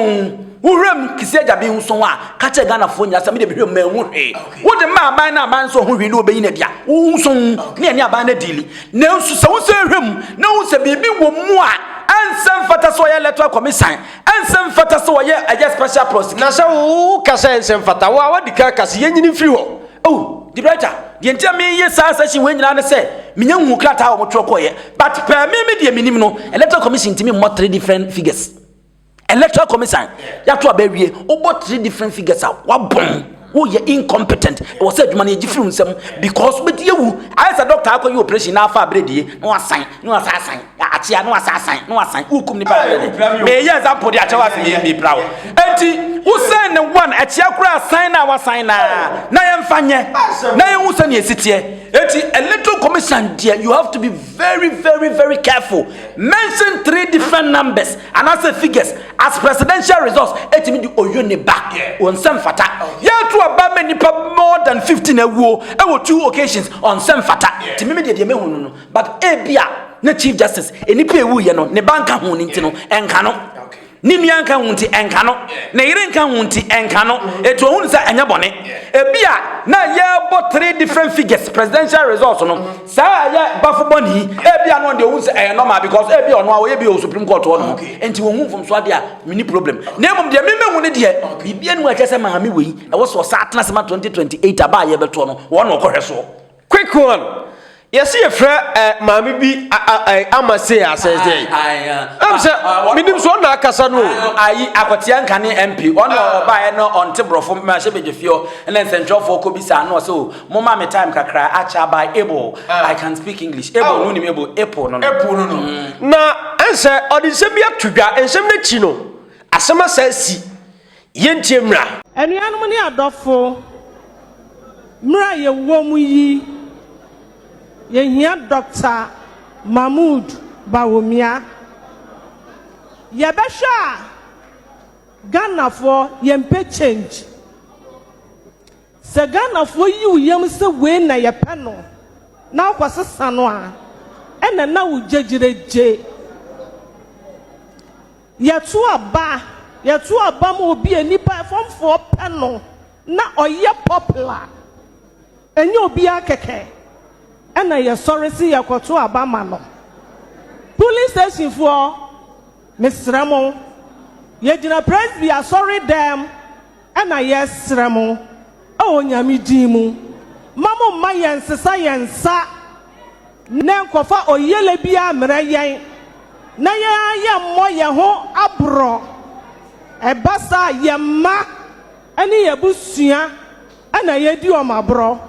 wo werɛ mu Kissi Agyaben nso a, ka kyerɛ Ghanafoɔ nyinaa sɛ me deɛ me werɛ mu manhu hwee. Wode ma aban na aban nso ho hwee ne wɔbɛyi no adi a, wo nso ne ɛne aban no adiili. Nanso sɛ wo nso hwɛ mu na wohu sɛ biribi wɔ mu a ɛnsɛ mfata sɛ ɔyɛ electoral commisan Ɛnsɛ mfata sɛ wɔyɛ ɛyɛ special prosecutor. Na sɛ wo ka sɛ ɛnsɛ mfata, wo a wadi kan ka sɛ yɛnyini mfiri hɔ. Oh, Debrajah, deɛ nti a meyɛ saa session wei nyinaa ne sɛ menya nhuu krataa a wɔtwerɛ kɔeɛ. But pɛɛ me me deɛ menim no, Electoral Commission ntumi mmɔ three different figures. Electoral Commission, yɛato aba awie, wobɔ three different figures a, woabom. Woyɛ incompetent ɛwɔ sɛ adwuma no yɛgye firi wo nsam because wobɛdi awu ayɛ sɛ doctor akɔyɛ operation na afa aberɛ die na wasan na wasa asan akyea na wasa asan na wasan wokum nipa meyɛ example de akyɛ wo ase mepira wo enti wosan ne one akyea koraa asan na wasan na na yɛmfa nyɛ na yɛhu sɛnea ɛsiteɛ enti electoral commission deɛ you have to be very very very careful mention three different numbers anaasɛ figures As presidential resource ɛtumi de oyo ne ba ɔnsɛm fata yɛtu aba ma nipa more than 15 awuo ɛwɔ two occasions ɔnsɛm fata ti mimi deɛ deɛ mehu no no but ebi a na chief justice nipa ewu yɛ no ne ba nka ho ne nti no ɛnka no ne nua nka ho nti ɛnka no ne yere nka ho nti ɛnka no etu ohun sɛ ɛnyɛ bɔne ebi a na yɛbɔ three different figures presidential resource no. Saa a ɛyɛ bafo bɔne yi, ebia no deɛ ɔhu sɛ ɛyɛ normal because ebia ɔno a ɔyɛ bi wɔ Supreme Court hɔ nom, nti ɔnhu mfomso adeɛ a, menni problem. Na mmom deɛ me mɛhu ne deɛ, biribi anim a ɛkyerɛ sɛ maame wei, ɛwɔ sɛ ɔsan atena ase ma 2028 aba a yɛbɛtoɔ no, wɔn na ɔkɔhwɛ soɔ. Quick one, yɛse yɛfrɛ eh, maame bi a, a, a, eh, ama sei a, sɛ ɛsɛ yi. Ɛm sɛ, menim sɛ ɔna akasa no o. Ayi, akɔteɛ nkane MP, ɔna ɔbaeɛ na ɔnte borɔfo, mahyɛ bɛdwafie hɔ, ɛna nsɛntwerɛfoɔ kɔbisaa no, ɔsɛ o, Mo ma me time kakra acha by able ah. I can speak English able oh. no nim able apple no no. Apple no no. Mm. Na ɛnsɛ ɔde nsɛm bi ato dwa nsɛm no akyi no asɛm asa asi yɛntie mmra. Anuanom ne adɔfo mmra yɛwɔ mu yi yɛhia Dr. Mahmoud Bawumia. Yɛbɛhwɛ a Ghanafoɔ yɛmpɛ change. Sɛ Ghanafoɔ yi wo yam sɛ wei na yɛpɛ no na wokɔ sesa no a, ɛna na wo gyegyerɛ gye. Yɛto aba, yɛto aba ma obi a nnipa ɛfɔmfoɔ pɛ no na ɔyɛ popular, ɛnyɛ obiara kɛkɛ ɛna yɛsɔre se yɛkɔto aba ma no. Polling stationfoɔ, mesrɛ mo, yɛgyina Presby asɔredɛm Ɛna yɛsrɛ mo wɔ Onyame din mu, mma mo mma yɛn nsesa yɛn nsa ne nkɔfa ɔyele biara mmrɛ yɛn, na yɛn ara yɛn mmɔ yɛn ho aborɔ, ɛba saa a yɛn mma ne yɛn abusua na yɛdi wɔn aborɔ.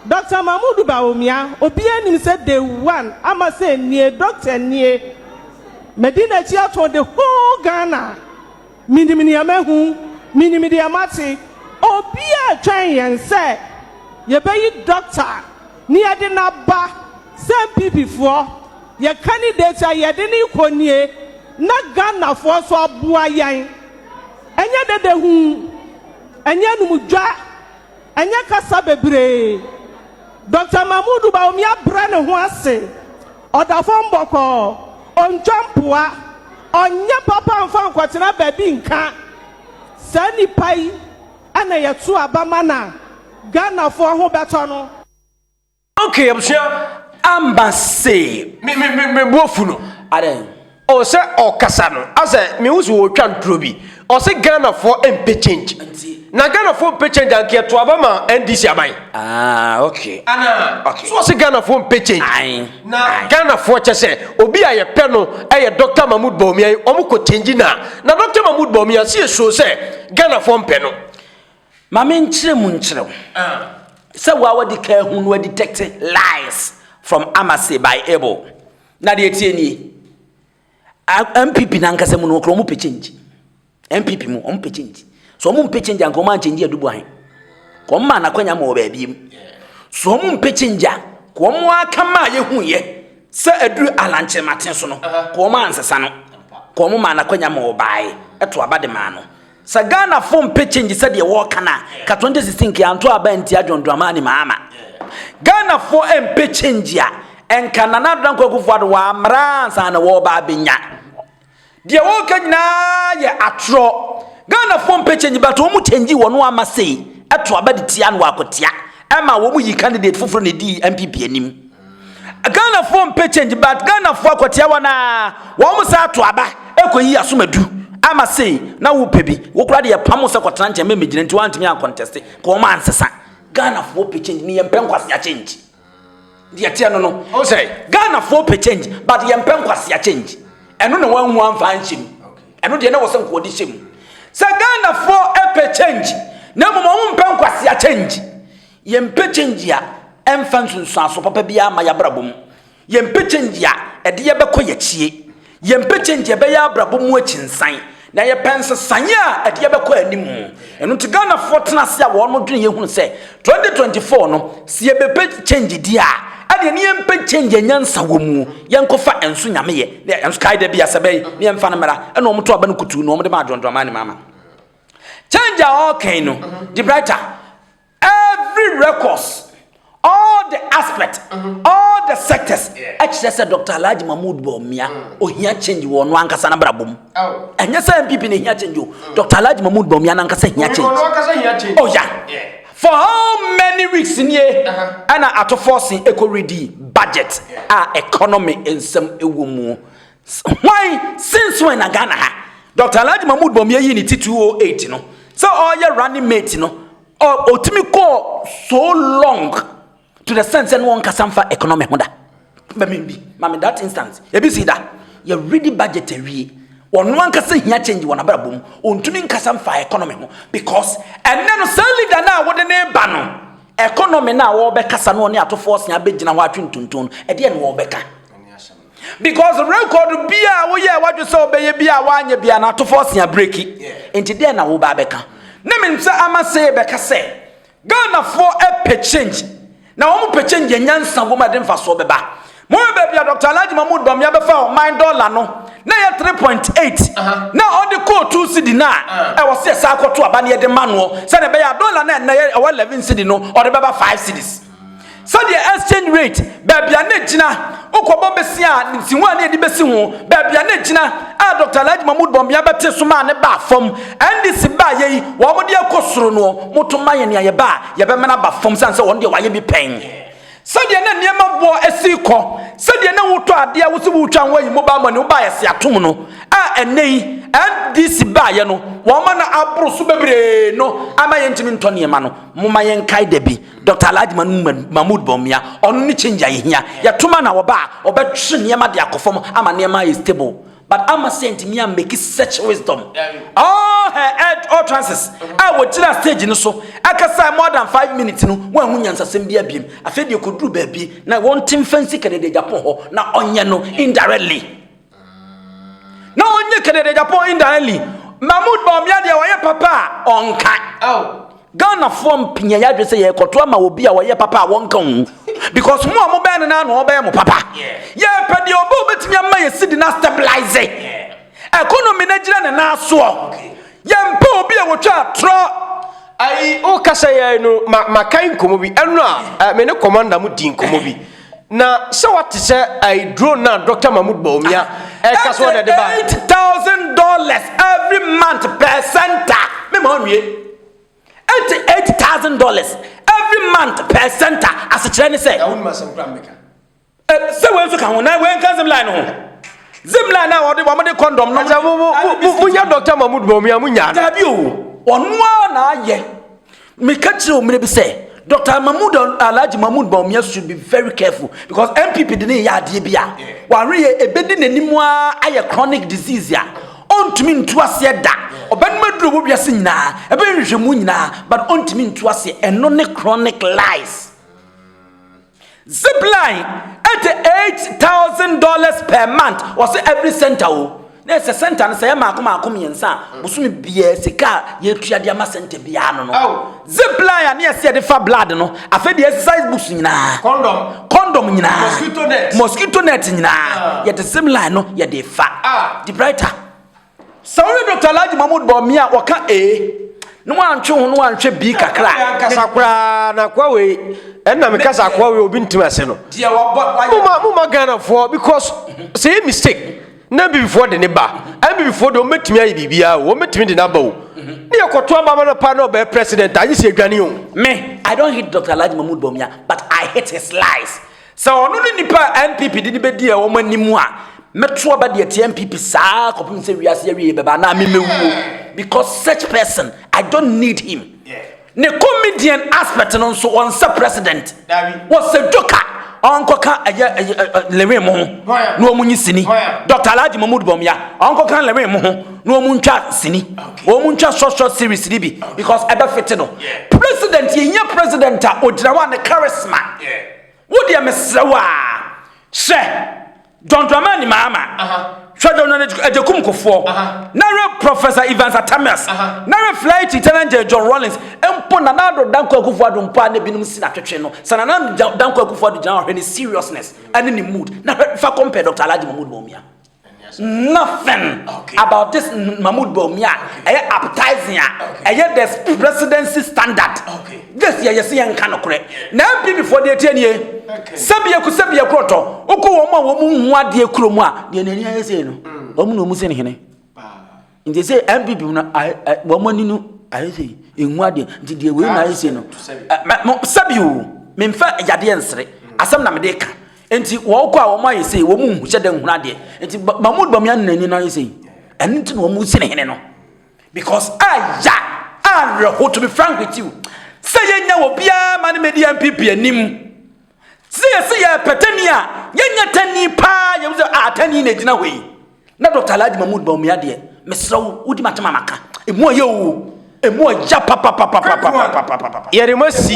Doctor Mahmoud Bawumia, obiara nim sɛ day one ama sɛ nie, doctor nie, madi n'akyi ato the whole Ghana. Minim nea mahu, minim deɛ mate. Obiara retwɛn yɛn sɛ yɛbɛyi dɔkta na yɛde no aba sɛ NPP foɔ, yɛn candidate a yɛde no rekɔ nie na Ghanafoɔ nso aboa yɛn. Ɛnyɛ dede ho, ɛnyɛ anum dwa. Ɛnyɛ kasa bebree. Dɔkta Mahmoud Bawumia brɛ ne ho ase, ɔda fam bɔkɔɔ, ɔntwa mpoa, ɔnyɛ papa mfa nkɔtena baabi nka. Saa nipa yi na yɛto aba ma na Ghanafoɔ ho bɛtɔ no. Okay abusua amba se me me me me bofu no. Adɛn? Oh sɛ ɔkasa no asɛ mehu so ɔretwa nturo bi ɔse Ghana foɔ mpɛ change Nti. na Ghana foɔ mpɛ change anka yɛto aba ma NDC aban Ah okay ana okay. so ɔse Ghana foɔ mpɛ change Ae na ae. Ghana foɔ kyɛ sɛ obi a yɛpɛ no yɛ Doctor Mahmood Bawumia yi ɔmo kɔ change na na Doctor Mahmood Bawumia se yɛ sure sɛ Ghana foɔ mpɛ no. Ma me nkyerɛ mu nkyerɛ wo sɛ wo a wadi kan ahu no adetect lies from Amase by Abel. Na deɛ ɛteɛ nie, MPP nankasa mu no wɔkora wɔn pɛ change. MPP mu wɔn pɛ change. So wɔn mpɛ change anka wɔn anchange adubu ahe. Ka wɔn maa n'akwanya ma wɔ baabi mu. So wɔn mpɛ change a, ka wɔn aka maa yɛhu yɛ sɛ aduru alankyerɛmaten so no, ka wɔn ansesa no. Ka wɔn maa n'akwanya ma wɔ baae ɛto aba de maa no. Sɛ Ghanafo mpe change sɛdeɛ wɔka no a, ka 2016 kea nto aba ntia John Dramani Mahama. Ghanafo mpe change a, ɛnka Nana Addo Dankwa Akufo-Addo wammra ansa na wɔreba abɛnya. Deɛ wɔreka nyinaa yɛ atorɔ. Ghanafo mpe change but wɔn change wɔn ama sei ɛto aba de tia no wɔ akotea ɛma wɔn yi candidate foforɔ na ɛdii NPP anim. Ghana foɔ mpɛ change but Ghana foɔ akɔtea wɔn a wɔn mo saa to aba ɛkɔ yi asom adu ama sei na wo pɛ bi wo kora de yɛ pam sɛ kɔtena nkyɛn mɛ megyina nti wɔn antumi ankɔntɛste ka wɔn ansesa Ghana foɔ pɛ change ne yɛn pɛ nkwasea change deɛ teɛ no no o sɛ Ghana foɔ pɛ change but yɛn pɛ nkwasea change ɛno na wɔn ho anfa anhyɛ mu ɛno deɛ na wɔsɛ nkɔɔde hyɛ mu sɛ Ghana foɔ pɛ change na mmom wɔn mpɛ nkwasea change Yɛmpɛ kyɛngyi a ɛmfa nsunsuanso papa biara mma y'abrabɔ mu. Yɛmpɛ kyɛngyi a ɛde yɛ bɛkɔ y'akyie. Yɛmpɛ kyɛngyi a ɛbɛyɛ abrabɔ mu akyinsan. Na yɛpɛ nsesaeɛ a ɛde yɛ bɛkɔ animu. Ɛno nti Ghanafoɔ tena ase a wɔn dwene yɛ hunu sɛ 2024 no sɛ yɛbɛpɛ kyɛngyi deɛ a ɛdeɛ ne yɛmpɛ kyɛngyi a nyansa wɔ mu. Yɛnkɔ fa ɛnso Nyame yɛ ne ɛnso kae da bi a sɛ bɛyi ne yɛmfa no mmra. Ɛna wɔn to aba no kutuu na wɔn de ma adwondwɔmaa ne maama. Kyɛngyi a ɔɔka yi no, Debrighter, Every records, all the aspects, all the sectors. Ɛkyerɛ sɛ Dr. Alhaji Mahmood Bawumia, ohia change wɔ ɔno ankasa n'abrabɔ mu. Ɛnyɛ sɛ NPP na ehia change o. Dr. Alhaji Mahmood Bawumia n'ankasa hia change. Oh yeah. For how many weeks nie ɛna atofɔɔse ɛkɔ redi budget a economy nsɛm ɛwɔ mu. Hwan, since when na Ghana ha? Doctor Alhaji Mahmood Bawumia yii ne ti 2008 no sɛ ɔreyɛ running mate no, ɔtumi kɔɔ so long to the sense sɛ no ɔnkasa mfa economy ho da. Mami bi, mami that instance, ebi si da, yɛ ready budget awie, ɔno ankasa hia change wɔ n'abrabɔ mu, ɔntumi nkasa mfa economy ho because ɛnɛ no saa leader no a wode ne ba no, economy no a wɔbɛkasa no ɔne atofoɔ se abɛgyina hɔ atwe ntonton no, ɛdeɛ na wɔbɛka? Because record bi a woyɛ wadwe sɛ wobɛyɛ bi a woanyɛ bi a na atofo ɔse abreki. Nti dɛn na woba abɛka? Na menim sɛ ama sɛ yɛbɛka sɛ Ghanafoɔ ɛpɛ change na wɔn pɛ change yɛ nyansa wɔ mu ɛde mfasoɔ bɛba. Mohwɛ baabi a Dr. Alhaji Mahmood Bawumia bɛfa ɔman dɔla no na ɛyɛ 3.8 na ɔde kɔɔ 2 cedi no a ɛwɔ sɛ yɛsan kɔto aba na yɛde ma noɔ sɛdeɛ ɛbɛyɛ a dɔla no a ɛnnɛ ɛwɔ 11 cedi no ɔde bɛba 5 cedis. Sɛdeɛ exchange rate, baabi a na ɛgyina, wokɔbɔ bese a nsiho a na yɛde bɛsi ho, baabi a na ɛgyina a Dɔkta Alhaji Mahmood Bawumia bɛte so maa no baa fam. NDC baa yɛ yi, wɔn de akɔ soro noɔ, moto ma yɛn nea yɛbɛ a yɛbɛma no aba fam sane sɛ wɔn deɛ wɔayɛ bi pɛn. Sɛdeɛ na nneɛma boɔ si rekɔ, sɛdeɛ na wotɔ adeɛ a wo se woretwa ho ayi mobile money, wobaa yɛse atom no a ɛnnɛ yi NDC baa yɛ no, wɔn ma no aboro so bebree no ama yɛntumi ntɔ nneɛma no. Momma yɛnkae da bi. Dɔkta Alhaji Mahmood Mahmood Bawumia, ɔno ne change a yɛhia. Yɛtom a na wɔba a, wɔbɛtwe nneɛma de akɔ fam ama nneɛma ayɛ stable. But amma sɛ yɛntumi ammake such wisdom. All her ed- utterances a wɔgyinaa stage no so kasae more than five minutes no, wɔanhu nyansasɛm biara biom. Afei deɛ ɛkɔduru baabi na wɔnte mfa nsi Kennedy Agyapong hɔ na ɔnyɛ no indirectly. na ɔnyɛ kadadadapɔn indaɛli mahmud bawumia deɛ ɔyɛ papa a ɔnka ghanafoɔ mpia yɛ adwene sɛ yɛrekɔto ama wɔ bi a ɔyɛ papa a wɔnka ho because mo a mobɛn no no ano ɔbɛyɛ mo papa yɛpɛ deɛ ɔbɛ ɔbɛtumi ama yɛ sidi no astabilize economy no agyina ne nan soɔ yɛmpɛ obi a wɔtwa atorɔ ayi wokasa yɛ no maka nkɔmmɔ bi ɛno a me ne commander mu di nkɔmmɔ bi Na sɛ wate sɛ ayi drone na Dr. Mahmoud Bawumia ɛka so ɔde de ba. Eight thousand dollars every month per center. Me ma ɔnwie. Ɛnti eight thousand dollars every month per center asekyerɛ ne sɛ. Na wɔn ma sɛm kura mbɛka. Sɛ wɔn nso ka ho na wɔn nka zim line ho. Zim line na wɔde wɔn de kɔndɔm. Ɛsɛ mo mo mo mo yɛ Dr. Mahmoud Bawumia mo nyaa. Dabi o, ɔnoa na ayɛ. Meka kyerɛ wo mmerɛ bi sɛ Dr. Mahmood Alhaji Mahmood Bawumia should be very careful because NPP de ne yɛ adeɛ bi a wahweyɛ ɛbɛdi n'anim a ayɛ chronic disease a ɔntumi ntu aseɛ da ɔbɛnom aduro wɔ wiase nyinaa ɛbɛyɛ nhwehwɛmu nyinaa but ɔntumi ntu aseɛ ɛno ne chronic lies Zip line ɛte eight thousand dollars per month wɔsɛ every center o na ɛsɛ center no sɛ yɛ maako maako mmiɛnsa a mm. bosome biara sika a yɛtua de ama center biara no no zip line a ne yɛsɛ yɛde fa blood no afei deɛ exercise books nyinaa condom condom nyinaa mosquito net mosquito net nyinaa ah. yɛde zip line no yɛde fa ah. de brighter Sɛ wohwɛ Doctor Alhaji Mahmood Bawumia a ɔka A na wantwe ho no anhwɛ B kakra. Ɛyɛ ankasa koraa na kwa wei ɛna me kasa kwa wei obi ntumi ase no. Muma muma Ghana foɔ because sɛ yɛ mistake na bibifoɔ de ne ba ɛn bibifoɔ de wɔn bɛtumi ayɛ biribiara o wɔn bɛtumi de n'aba o ne yɛ kɔto abama no paa na ɔbɛyɛ president a nye sɛ yɛdwane o. Me I don't hate Doctor Alhaji Mahmood Bawumia but I hate his lies Sɛ ɔno ne nipa a NPP de no bɛdi wɔn anim a, mɛto aba de atia NPP saa kɔpem sɛ wiase awie bɛba anaa memɛwuo because such person, I don't need him. Ne comedian aspect no nso ɔnsɛ president. Wɔsɛ joker ɔnkɔka ɛyɛ lewin mo ho na wɔn nye sini. Dr. Alhaji Mahmoud Bawumia ɔnkɔka lewin mo ho na wɔn ntwa sini. Wɔn ntwa short short series ni bi because ɛbɛfete no. President yɛnyɛ president a ɔgyina hɔ a ne charisma. Wo deɛ mesrɛ wo aa Hyɛ John Dramani Mahama Hwɛ John Agyekum Kufuor Na hwɛ Professor Evans Atamias Na hwɛ Fly Chi Challenger John Rawlings Mpo Nana Addo Dankwa Akufo-Addo Mpo a na ebinom si no atwetwe no Sɛ Nana Dankwa Akufo-Addo gyina hɔ a hwɛ ne seriousness ɛne ne mood Na hwɛ fa compare Doctor Alhaji Mahmood Bawumia Nothing about this Mahmoud Bawumia a ɛyɛ appetizing a ɛyɛ the presidency standard. This yɛ yɛsi yɛn nka nokorɛ. Na NPP foɔ deɛ tie nie. Sɛbi eku sɛbi ekurɔtɔ. Wokɔ wɔn a wɔn nhu adeɛ kurom a deɛ n'ani ayɛ sei no wɔn na wɔn sin hene. nti sɛ npp mu no wɔn ani no ayɛ sɛ enwu adeɛ nti deɛ wei na ayɛ sɛ no sɛbi o memfa yadeɛ nsere asɛm na mede ka nti wɔn kɔ a wɔn ayɛ sɛ wɔn mu hyɛ dɛ nhunu adeɛ nti mahmud bamia no n'ani no ayɛ sɛ ɛno nti na wɔn si ne hene no because aya awerɛho to be frank with you sɛ yɛnya wɔ biara ma no medi npp anim Sɛ yɛsi yɛ pɛ tani a yɛnyɛ tani paa yɛn sɛ a tani na egyina hɔ yi na Dr. Alhaji Mahmood Bawumia deɛ mesrɛ wo wodi m'atem a maka emu ɔyɛ o emu ɔya papapapapapapapapa yɛde mo asi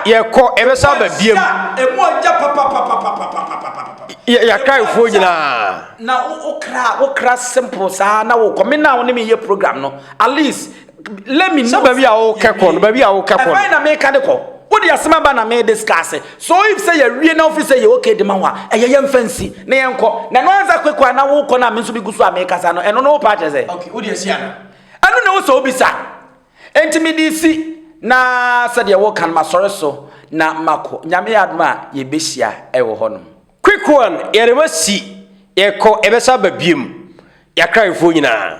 yɛkɔ ɛbɛsa aba biam emu ɔya papapapapapapapa yɛakraefoɔ nyinaa na wokra wokra simple saa na wokɔ me na wo ne me yɛ program no at least let me know. sɛ baabi a wokɛkɔ no baabi a wokɛkɔ no. ɛbɛn na meka de kɔ wode asɛm aba na me discuss so if sɛ yɛwie na wofi sɛ yɛ okay de ma ho a ɛyɛ yɛmfa nsi na yɛnkɔ na ɛno ansa kwekɔ a na wokɔ no a me nso megu so a mekasa no ɛno no wopɛ akyerɛ sɛ okay wode asi ana ɛno na wo sɛ wobisa enti mede si na sɛdeɛ woka no masɔre so na makɔ nyame yɛ adom a yɛbɛhyia ɛwɔ hɔ nom kwekɔ a yɛde ma si yɛkɔ ɛbɛsa ba biam yɛakraefoɔ nyinaa